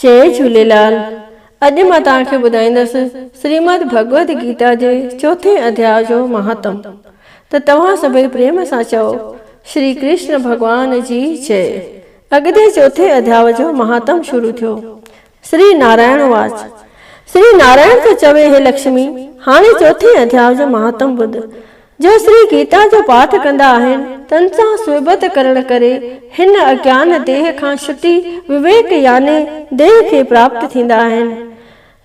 جئي جهوليلال اڄ مان توهان کي ٻڌائيندس سريمد ڀڳوت گيتا جي چوٿين اڌياء جو مهاتم ته توهان سڀئي پريم سان چئو شري ڪرشن ڀڳوان جي جئ اڳتي چوٿين اڌياء جو مهاتم شروع ٿيو سري نارائڻ واچ سري نارائڻ ٿو چوي هي لڪشمي هاڻي چوٿين اڌياء جو مهاتم ٻڌ جو شري گيتا جو پاٺ ڪندا آهن، تن سان صحبت ڪرڻ ڪري هن اگيان ديهه کان ڇٽي وويڪ يعني ديهه کي پراپت ٿيندا آهن.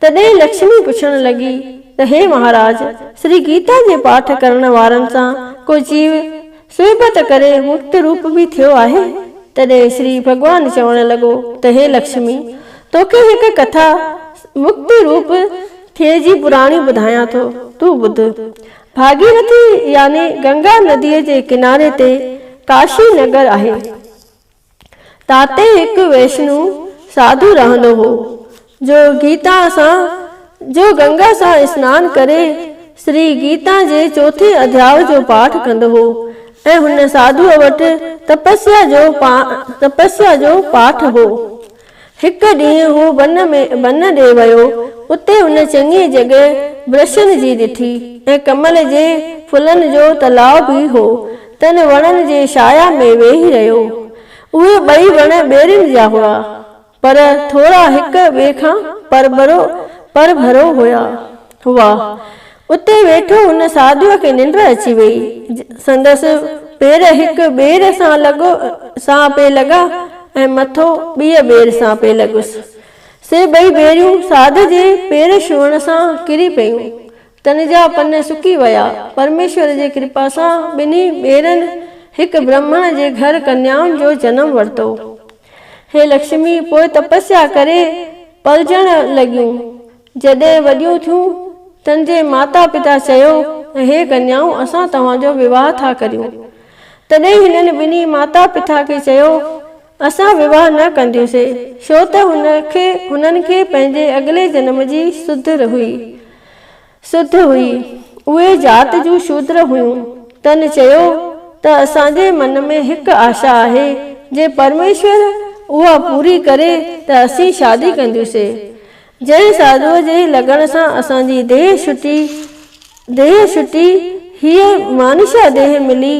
تڏهن لڪشمي پڇڻ لڳي ته هي مهاراج! شري گيتا جي پاٺ ڪرڻ وارن سان ڪو جيو صحبت ڪري مڪت روپ به ٿيو آهي؟ تڏهن شري ڀڳوان چوڻ لڳو ته هي لڪشمي! توکي هڪ ڪٿا مڪت روپ ٿيء جي پراڻي ٻڌايان ٿو، تون ٻڌ. ڀاڳيرٿي يعني گنگا نديء جي ڪناري تي ڪاشي نگر آهي. تاتي هڪ ويشنو ساڌو رهندو هو، جو گيتا سان جو گنگا سان اسنان ڪري سري گيتا جي چوٿين اڌياء جو پاٺ ڪندو هو ۽ هن ساڌوء وٽ تپسيا جو تپسيا جو پاٺ هو. هڪ ڏينهن هو بن ۾ بن ڏي ويو، اتي هن چڱي جڳهه برشن جي ڏٺي ۽ ڪمل جي ڦلن جو تلاء به هو، تن وڻن جي شايا ۾ ويهي رهيو. اهي ٻئي وڻ ٻيرين جا هئا، پر ٿورا هڪ ٻئي کان پرڀرو پرڀرو هئا. اتي ويٺو هن ساڌوء کي ننڊ اچي ويئي. سندس پير هڪ ٻير سان لڳو سان پئي لڳا ۽ مٿو ٻيء ٻير سان پئي لڳس. سي ٻئي ٻيريون ساڌ جي پير ڇهڻ سان ڪري پيون. تن جا پن سڪي ويا. پرميشور جي ڪرپا سان ٻنهي ٻيرن هڪ برهمڻ جي گهر ڪنيائن جو جنم ورتو. هي لڪشمي پوء تپسيا ڪري پلجڻ لڳيون. جڏهن وڏيون ٿيون، تن جي ماتا پتا چيو، اهي ڪنيائون اسان توهان جو وواهه ٿا ڪريون. تڏهن هنن ٻنهي ماتا پتا کي چيو، اسان وواهه نه ڪنديونسي، ڇو ته هن کي هنن کي پنهنجي اڳلي جنم جي سڌ هئي. سڌ هئي. اهي ذات جون شودر هيون. تن چيو ته اسان جي من ۾ هڪ آشا آهي، جي پرميشور اها پوري ڪري ته اسين شادي ڪنديونسي. جنهن ساڌوء جي لڳڻ سان اسان جي ديهه شٽي، ديهه شٽي، هيء مانيشا ديهه ملي،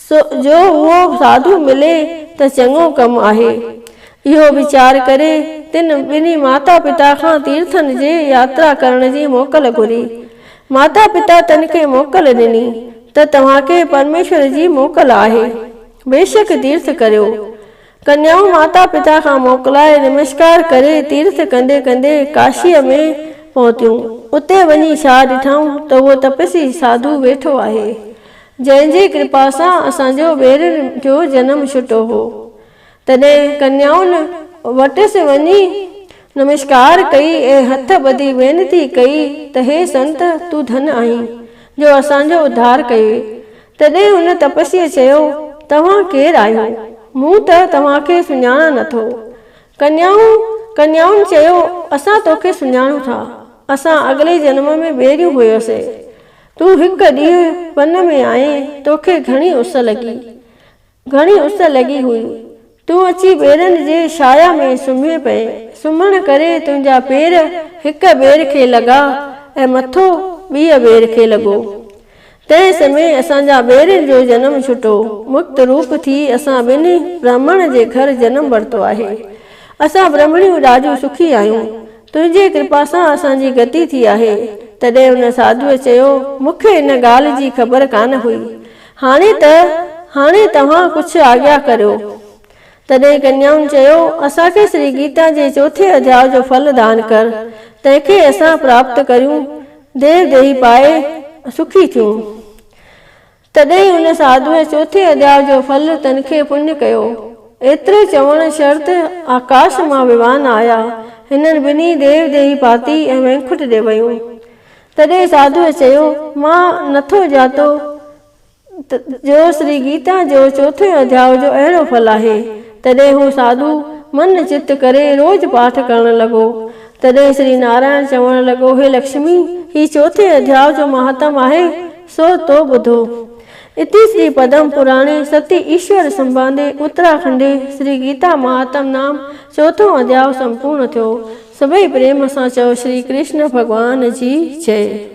سو جو اهو ساڌو ملي ته چڱو ڪم آهي. اهو ويچار ڪري، تن ٻنهي ماتا پتا کان تيرٿن جي ياترا ڪرڻ جي موڪل گهري. ماتا پتا تن کي موڪل ڏني ته توهان کي پرميشور جي موڪل آهي. بيشڪ تيرٿ ڪريو. ڪنيائون ماتا پتا کان موڪلائي نمسڪار ڪري تيرٿ ڪندي ڪندي ڪاشيء ۾ پهتيون. اتي وڃي ڇا ڏٺائون ته اهو تپسي ساڌو ويٺو آهي، جنهن جي ڪرپا سان اسان جو ويرين جو جنم ڇٽو هو. تڏهن ڪنيائن وٽس وڃي نمسڪار ڪئي ۽ هٿ ٻڌي وينتي ڪئي ته هي سنت تون ڌن آهين، جو اسان جو اڌار ڪيوئي. تڏهن ان تپسيء چيو، توهان ڪير آهيو؟ مون ته توهان کي سڃاڻان نه ٿو. ڪنيائون، ڪنيائن چيو، اسان تو کي سڃاڻون ٿا. اسان اڳلي جنم ۾ ٻيريون هيوسين. تون هڪ ڏينهن ون ۾ آئين، تو کي گهڻي اس لڳي. گهڻي اس لڳي هئي. تون اچي ٻيرن جي شايا ۾ سمهي پئي. سمهڻ ڪري تنهنجا پير هڪ ٻير کي لڳا ۽ مٿو ٻيء ٻير کي لڳو. تنهن سمهي اسان جا ٻيرن جو جنم ڇٽو. مڪت روپ ٿي اسان ٻنهي برهمڻ جي گهر جنم ورتو آهي. اسان برهمڻيون ڏاڍيون سکي آهيون. تنهنجي ڪرپا سان اسان جي گتي ٿي آهي. تڏهن ان ساڌوء چيو، مون کي ان ڳالهه جي خبر ڪانه هئي. هاڻي ته هاڻي توهان ڪجهه آجيا ڪريو. تڏهن ڪنيائن چيو، اسان کي شري گيتا جي چوٿين اڌياء جو ڦل دان ڪر، تنهن کي اسان پراپت ڪريون، ديو ديهي پائي سکي ٿيون. تڏهن ان ساڌوء چوٿين اڌياء جو ڦل تن کي پڃ ڪيو. ايترو چوڻ شرط آڪاش مان ويوان آيا. هنن ٻنهي ديو ديهي پاتي ۽ وينڪٽ ڏي ويون. تڏهن ساڌوء چيو، مان نٿو ڄاتو ته جو سري گيتا جو چوٿين اڌياء جو اهڙو ڦل آهي. تڏهن هو ساڌو من چت ڪري روز پاٺ ڪرڻ لڳو. تڏهن سري نارائڻ چوڻ لڳو، هي لڪشمي! هي چوٿين اڌياء جو مهاتم آهي، سو تو ٻڌو. اتي سري پدم پراڻي ستي ايشور سنباندي اتراکنڊي سري گيتا مهاتم نام چوٿون اڌياء سمپورڻ ٿيو. سڀئي پريم سان چئو شري ڪرشن ڀڳوان جي جئي.